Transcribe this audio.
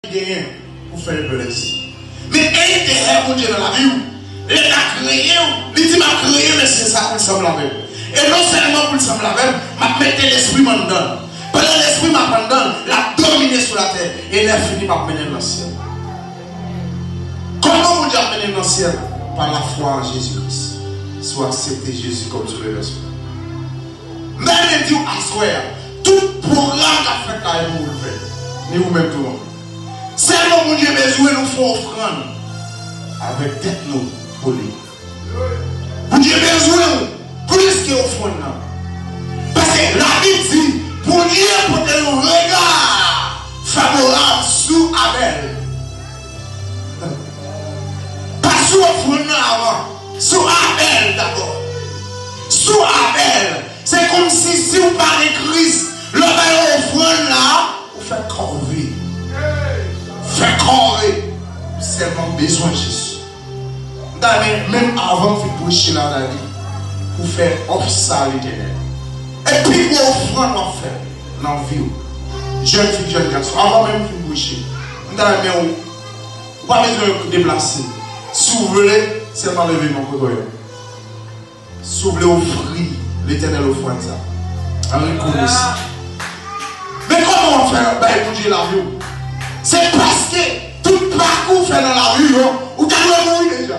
Ki genyen pou fè yo lèzi. Men enterè Bondye nan lavi w. Lè l a kreye w, li di, M ap kreye mesye sa a pou l sanble avè m. E nonsèlman pou l sanble avè m, m ap mete lespri m anndan l. Pandan lespri m ap anndan l, l ap domine sou latè, e lèfini m ap mennen l nan syèl la. Kòman Bondye ap mennen n nan syèl? Pa lafwa an Jezi Kris. Si w aksepte Jezi kòm Sovè pèsonèl ou. Men li di w aswè a, tout pwogram k ap fèt la yo pou w fè, ni ou menm tou non. Sèlman Bondye bezwen nou fè ofrann avèk tèt nou pou li. Bondye bezwen w plis ke ofrann nan. Paske Labib di Bondye pote yon rega favorab sou Abèl. Pa sou ofrann nan avan. Sou Abèl dabò. Sou Abèl. Se kòmsi si ou pa gen Kris, lè ou bay yon ofrann la, ou fè kòve. Fè kòve. Ou sèlman bezwen Jezi. M ta renmen menm avan m fin preche la Dani pou fè òf sa a Letènèl. E pi gwo ofrann w ap fè nan vi w jèn fi jèn gason avan menm fin preche m ta renmen ou pa bezwen deplase si w vle sèlman leve men w kote w ye. Si w vle ofri Letènèl ofrann sa an rekonesan. Men kòman w ap fè bay Bondye lavi w? Se paske tout pa k ou fè nan lavi w yo, ou ta dwe mouri deja.